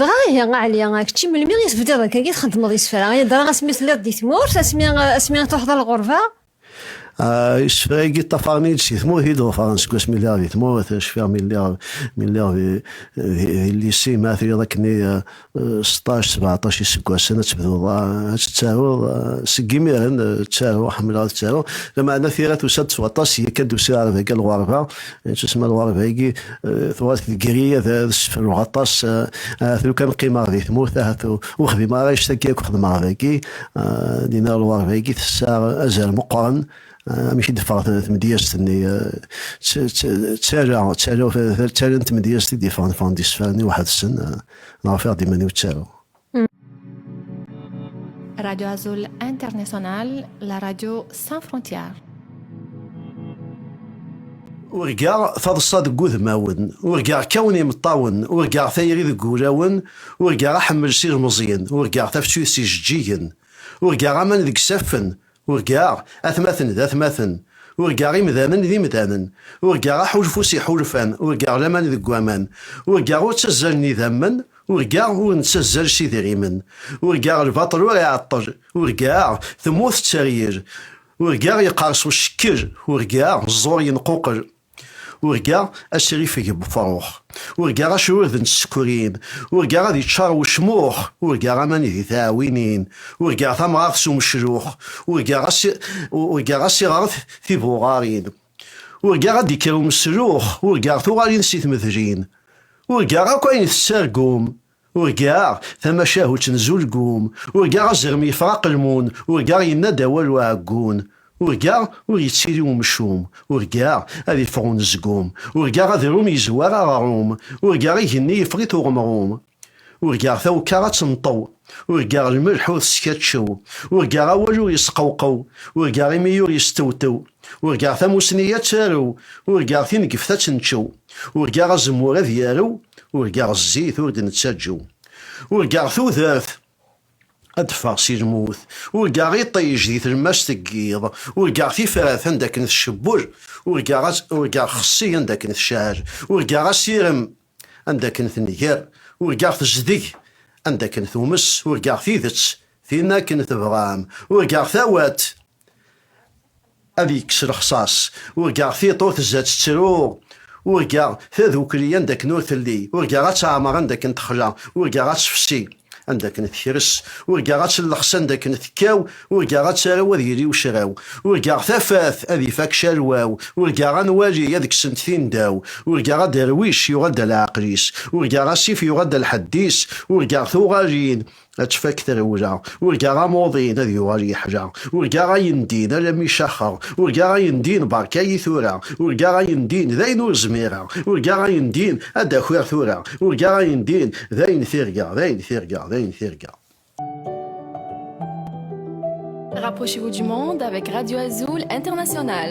Dɣa ihi a Ɛli, kečči melmi i tebdiḍ akka i txeddmeḍ isefra? Dɣa asmi telliḍ di tmurt, asmi asmi truḥeḍ ɣer lɣerba? Isefra-agi ṭṭafaren-iyi-d si tmurt i d-ḍefren seg wasmi lliɣ di tmurt, cfiɣ mi lliɣ mi lliɣ di di lyisi ma trid akken i seṭṭac sebeɛṭac iseggasen ad tebduḍ ad tettaruḍ, seg imiren ttaruɣ ḥemmleɣ ad ttaruɣ, lameɛna tira tusa-d s waṭas, yakan d-usiɣ ar dagi ɣer lɣerba, Nettusma lɣerba-agi tuɣal tegri ad ssefruɣ aṭas ahat lu kan qqimeɣ di tmurt ahat ur xdimeɣ ara anect-agi akk xedmeɣ dagi dinna lɣerba-agi tessaɣ azal meqqren amek i d-teffeɣ tmedyazt-nni ttarra ttarra ttarra n tmedyazt i d-yeffɣen ffɣen-d isefra-nni weḥd-sen neɣ ufiɣ-d iman-iw ttaruɣ. Radio Azul International, la radio sans frontières. urgaɣ taḍsa deg udmawen urgaɣ kawen imeṭṭawen urgaɣ tayri deg wulawen urgaɣ aḥemmel s ilmeẓyen urgaɣ tafsut s ijeǧǧigen urgaɣ aman deg isaffen Urgaɣ atmaten d atmaten, urgaɣ imdanen d imdanen, urgaɣ aḥulfu s iḥulfan, urgaɣ laman deg waman, urgaɣ ur ttazzalen idammen, urgaɣ ur nettazzal s idrimen, urgaɣ lbaṭel ur iɛeṭṭel, urgaɣ temmut tteryel, urgaɣ yeqqers ucekkel, urgaɣ ẓẓur yenquqel. Urgaɣ asrifeg n wefṛux, urgaɣ acrurd n tsekkrin, urgaɣ ad yeččaṛ wecmuḥ, urgaɣ aman di tɛawinin, urgaɣ tamɣart s umeclux, urgaɣ asiɣret tibuɣaṛin, urgaɣ ad d-ikker umeslux, urgaɣ tuɣalin si tmedlin, urgaɣ akk ayen tettargum, Urgaɣ tamacahut n Zulgum, urgaɣ azrem yeffeɣ aqelmun, urgaɣ yenna-d awal uɛeggun, urgaɣ ur yettili umcum, urgaɣ ad iffeɣ unezgum, urgaɣ adrum yezwar aɣrum, urgaɣ igenni yeffeɣ-it uɣemrum, urgaɣ tawekka ad tenṭew, urgaɣ lmelḥ ur teskaččew, urgaɣ awal ur yesqewqew, urgaɣ imey ur yestewtew, urgaɣ tamusni ad tarew, urgaɣ tinegeft ad tenčew. Urgaɣ azemmur ad yarew, urgaɣ zzit ur d-nettaǧu. Urgaɣ tudert ad d-teffeɣ si lmut, urgaɣ iṭij di tlemmast n yiḍ, urgaɣ tifrat anda akken tcebbur, urgaɣ xessi anda akken tecɛel, urgaɣ asirem anda akken tenger, urgaɣ tezdeg anda akken tumes, urgaɣ tidet tin akken tebɣam, urgaɣ tawat Ad yekkes lexṣaṣ. Urgaɣ tiṭ ur tezza tettru, urgaɣ tadukli anda akken ur telli, urgaɣ ad teɛmer anda akken texla, urgaɣ ad tefsi anda akken tekres, urgaɣ ad tellexs anda akken tekkaw, urgaɣ ad tarew ad yili ucraw, urgaɣ tafat ad ifak calwaw, urgaɣ anwali ad ksent tindaw, urgaɣ aderwic yuɣal-d a leɛqel-is, urgaɣ asif yuɣal-d a lḥedd-is, urgaɣ tuɣalin ad tfak trewla urgaɣ amuḍin ad yuɣal yeḥla urgaɣ ayen din alami caxeɣ urgaɣ ayen din berka-yi tura urgaɣ ayen din d ayen ur zmireɣ urgaɣ ayen din ad d-akiɣ tura urgaɣ ayen din d ayen tirga d ayen tirga d ayen tirga Rapprochez-vous du monde avec Radio Azul International.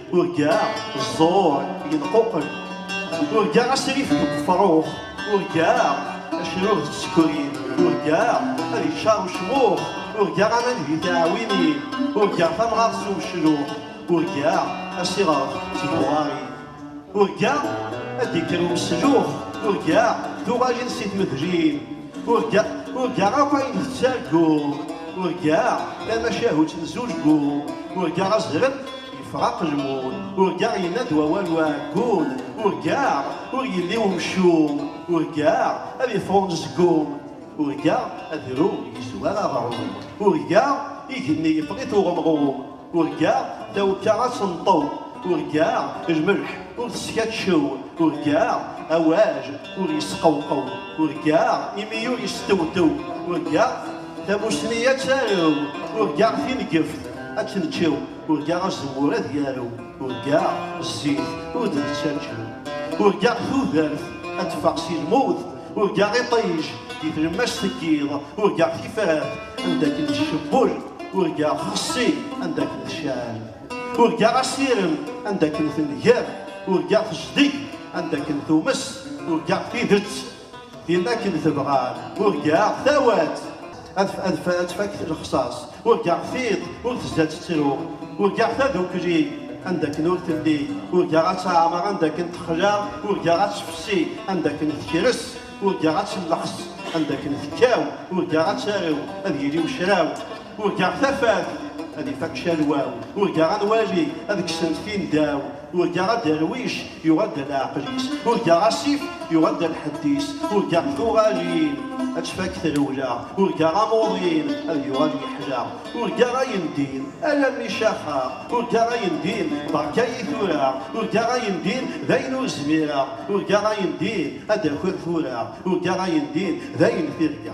Urgaɣ ẓẓur yenquqel, urgaɣ asrif deg ufrux, urgaɣ acrur d tsekrin, urgaɣ ad iččar ucmux, urgaɣ aman di tiɛwinin, urgaɣ tamɣart s umeclux, urgaɣ asiɣref d tbuɣarin, urgaɣ ad d-ikker umeslux, urgaɣ tuɣalin si tmedlin, urgaɣ urgaɣ akk ayen tettarguɣ, urgaɣ tamacahut n zulguɣ, urgaɣ azrem Yefraq lmul, urgaɣ yenna-d wawal uɛeggun, urgaɣ ur yelli umcum, urgaɣ ad yeffeɣ unezgum, urgaɣ adrum yezwar aɣrum, urgaɣ igenni yeffeɣ-it uɣemɣum, urgaɣ tawekka ad tenṭew, urgaɣ lmelḥ ur teskatcew, urgaɣ awaj ur yesqewqew, urgaɣ imi ur yestewtew, urgaɣ tamusni ad tarew, urgaɣ tinegeft ad tneččew. Urgaɣ azemmur ad yarew, urgaɣ zzit ur d-nettaǧǧu, urgaɣ tudert ad teffeɣ si lmut, urgaɣ iṭij di tlemmast n yiḍ, urgaɣ tifrat anda akken tcebbul, urgaɣ xessi anda akken tecɛel, urgaɣ asirem anda akken tenger, urgaɣ tejdeg anda akken tumes, urgaɣ tidet Yella akken tebɣam, urgaɣ tawat. Ad tfak lexṣaṣ, urgaɣ tiṭ ur tezza tettru. Urgaɣ tadukli, anda akken ur telli. Urgaɣ ad teɛmer, anda akken texla. Urgaɣ ad tefsi, anda akken tekres. Urgaɣ ad telleḥs, anda akken tekkaw. Urgaɣ ad tarew, ad yili ucraw. Urgaɣ tafat ad ifak calwaw, urgaɣ anwali ad kksen tindaw, urgaɣ aderwic yuɣal-d a leɛqel-is, urgaɣ asif yuɣal-d a lḥedd-is, urgaɣ tuɣalin ad tfak trewla, urgaɣ amuḍin ad yuɣal yeḥla, urgaɣ ayendin alammi caxeɣ, urgaɣ ayendin berka-yi tura, urgaɣ ayendin d ayen ur zmireɣ, urgaɣ ayendin ad d-takiḍ tura, urgaɣ ayendin d ayen tirga.